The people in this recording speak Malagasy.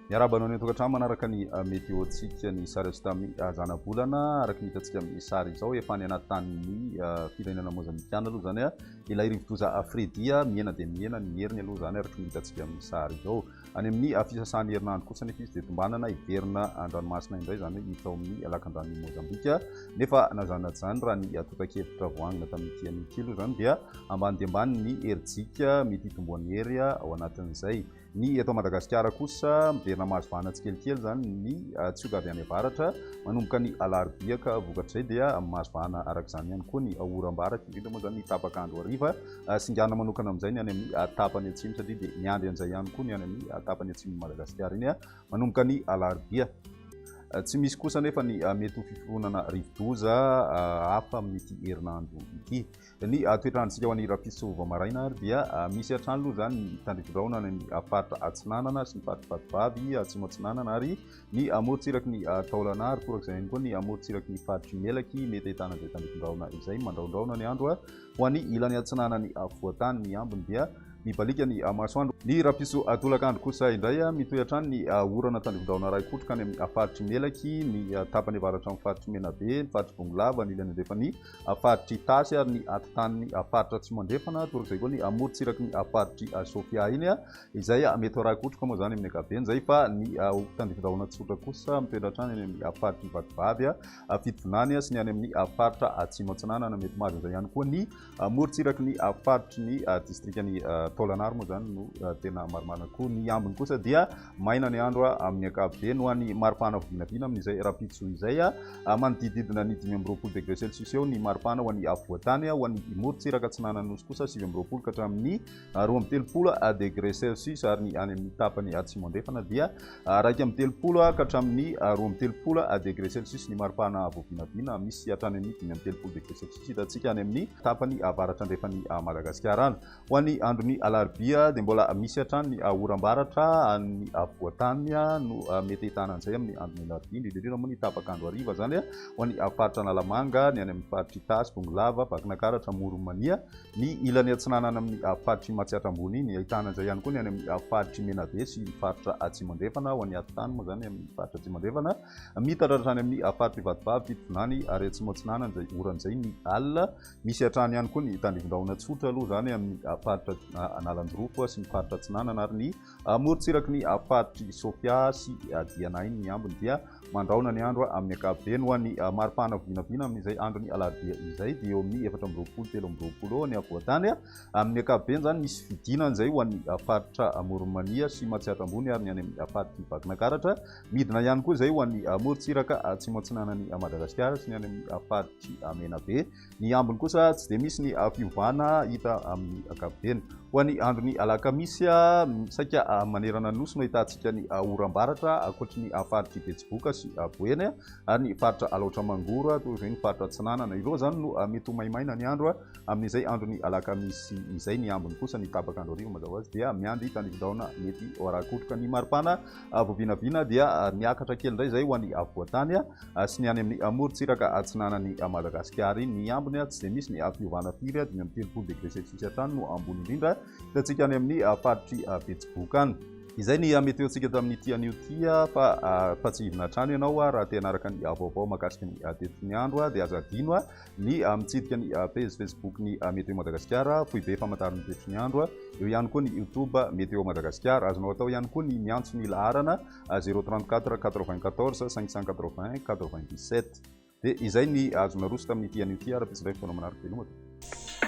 Miarahaba anao ny an-tokantrano manaraka ny ah, météo-tsika ny sary azo tamin'ny ah, zanabolana araka ny hitantsika amin'ny sary izao efa any anaty tanin'ny ah, firenena mozambikana aloha izany ilay rivodoza Fredia mihena dia mihena ny heriny aloha izany araka ny hitantsika amin'ny sary izao Any amin'ny fisasahan'ny herinandro kosa anefa izy dia tombanana hiverina an-dranomasina indray, izany hoe hiditra ao amin'ny lakan-dranon'i Mozambika. Nefa na izany na tsy izany, raha ny tontan-kevitra voangina tamin'ity anio ity aloha izany dia ambany dia ambany ny herijika mety hitomboan'ny hery ao anatin'izay. Ny eto Madagasikara kosa, miverina mahazo vahana tsikelikely izany ny tsioka avy any avaratra manomboka ny alarobia ka vokatr'izay dia mahazo vahana araka izany ihany koa ny oram-baratra, indrindra moa izany ny tapak'andro hariva. singana manokana amin'izay ny any amin'ny tapany atsimo satria dia miandry an'izay ihany koa ny any amin'ny tapany atsimon'i Madagasikara. Iny manomboka ny alarobia. Tsy misy kosa anefa ny mety ho fiforonana rivodoza hafa amin'ity herinandro ity. Ny toetrandrontsika ho an'ny rahampitso vao maraina ary dia misy hatrany aloha izany ny tandrivodraona any amin'ny faritra atsinanana sy ny faritra vatovavy atsimo atsinanana ary ny amorontsiraky ny taolana ary torak'izay ihany koa ny amorontsiraky ny faritry melaky mety ahitana izay tandrifindraona izay mandraondraona ny andro ho an'ny ilany atsinanany afovoantany ny ambiny dia mibaliaka ny masoandro ny rapiso atolakandro kosa indray mitohy hatrany ny orana tandrifindraona iray kotroka any amin'ny faritry melaky ny tapany avaratra amin'ny faritry menabe ny faritry bongolava ny ilany andrefany faritry tasy ary ny atitany faritra tsy mandrefana torak'izay koa ny amorontsiraky ny faritry sofia iny Izay mety ho rako-troka moa izany amin'ny ankapobeny izay fa ny tandindohana tsotra kosa mitoetra hatrany any amin'ny faritry ny Vatovavy, Fitovinany sy ny any amin'ny faritra Atsimo Atsinanana. Mety mahazo an'izay ihany koa ny morontsiraky ny faritry ny distrikan'i Taolagnaro moa izany no tena marimarina koa. Ny ambiny kosa dia maina ny andro amin'ny ankapobeny ho an'ny maripana vinavina amin'izay rahampitso izay. Manodidididina ny dimy amby roapolo degre celsius eo ny maripana ho an'ny afovoan-tany. Ho an'ny morontsiraka atsinanan'ny Nosy kosa sivy amby roapolo ka hatramin'ny ary roa amby telopolo degre celsius, ary ny any amin'ny tapany atsimo-andrefana dia iraika amby telopolo ka hatramin'ny roa amby telopolo degre celsius ny maripana voavinavina, misy hatrany amin'ny dimy amby telopolo degre celsius hitantsika any amin'ny tapany avaratra-andrefan'i Madagasikara any. Ho an'ny andron'ny alarobia dia mbola misy hatrany ny oram-baratra any afovoan-tany no mety ahitana an'izay amin'ny andron'ny alarobia, indrindra indrindra moa ny tapak'andro hariva izany ho an'ny faritra Analamanga, ny any amin'ny faritr'Itasy, Bongolava, Vakinakaratra, Amoron'i Mania, Ny ilany atsinanana amin' ny faritr'i Matsiatra Ambony iny, ahitana izay ihany koa ny any amin' ny faritr'i Menabe sy ny faritra Atsimo Andrefana, ao an'i Atotany moa izany amin' ny faritra Atsimo Andrefana, mitatra hatrany amin' ny faritr'i Vatovavy, Fitovinany ary Atsimo Atsinanana izay oran' izay ny alina. Misy hatrany ihany koa ny tandindonin-drahona tsotra aloha izany amin' ny faritra Analanjirofo sy ny faritra Atsinanana ary ny Amorontsiraky ny faritr'i Sofia sy Dianain ny ambiny dia mandrahona ny andro amin'ny ankapobeny. Ho an'ny maripana vinavina amin'izay andron'ny alarobia izay dia eo amin'ny efatra amby roapolo, telo amby roapolo eo ny afovoan-tany. Amin'ny ankapobeny izany misy fidinana izay ho an'ny faritra Amoron'i Mania sy Matsiatra Ambony ary ny any amin'ny faritr'i Vakinakaratra. Midina ihany koa izay ho an'ny morontsiraka atsimo-atsinanan'i Madagasikara sy ny any amin'ny faritr'i Menabe. Ny ambiny kosa tsy dia misy ny fiovana hita amin'ny ankapobeny. Ho an'ny andron'ny alakamisy, saika manerana ny nosy no ahitantsika ny oram-baratra ankoatry ny faritr'i Betsiboka sy Boeny ary ny faritra Alaotra Mangoro toy izay ny faritra Atsinanana. Ireo izany no mety ho maimaina ny andro amin'izay andron'ny alakamisy izay. Ny ambiny kosa ny tapak'andro hariva mazava ho azy dia miandry tandindohana mety ho ara-kotroka ny maripana. Avo vinavina dia niakatra kely indray izay ho any afovoan-tany sy ny any amin'ny morontsiraka atsinanan'i Madagasikara. Ny ambiny tsy dia misy ny fiovana firy, dimy amby telopolo degré celsius hatrany no ambony indrindra. Hitantsika any amin'ny faritr'i Betsiboka any. Izay ny meteontsika tamin'ity anio ity fa fa tsy hidina hatrany ianao raha te hanaraka ny vaovao mahakasika ny tetik'ny andro dia aza adino ny mitsidika ny pejy Facebook ny Météo Madagasikara, foibe famantarana ny toetry ny andro. Eo ihany koa ny YouTube Météo Madagasikara. Azonao atao ihany koa ny miantso ny laharana 034 94 581 97. Dia izay ny azo naroso tamin'ity anio ity ara-pitsy indray fotoana manaraka ianao matoa.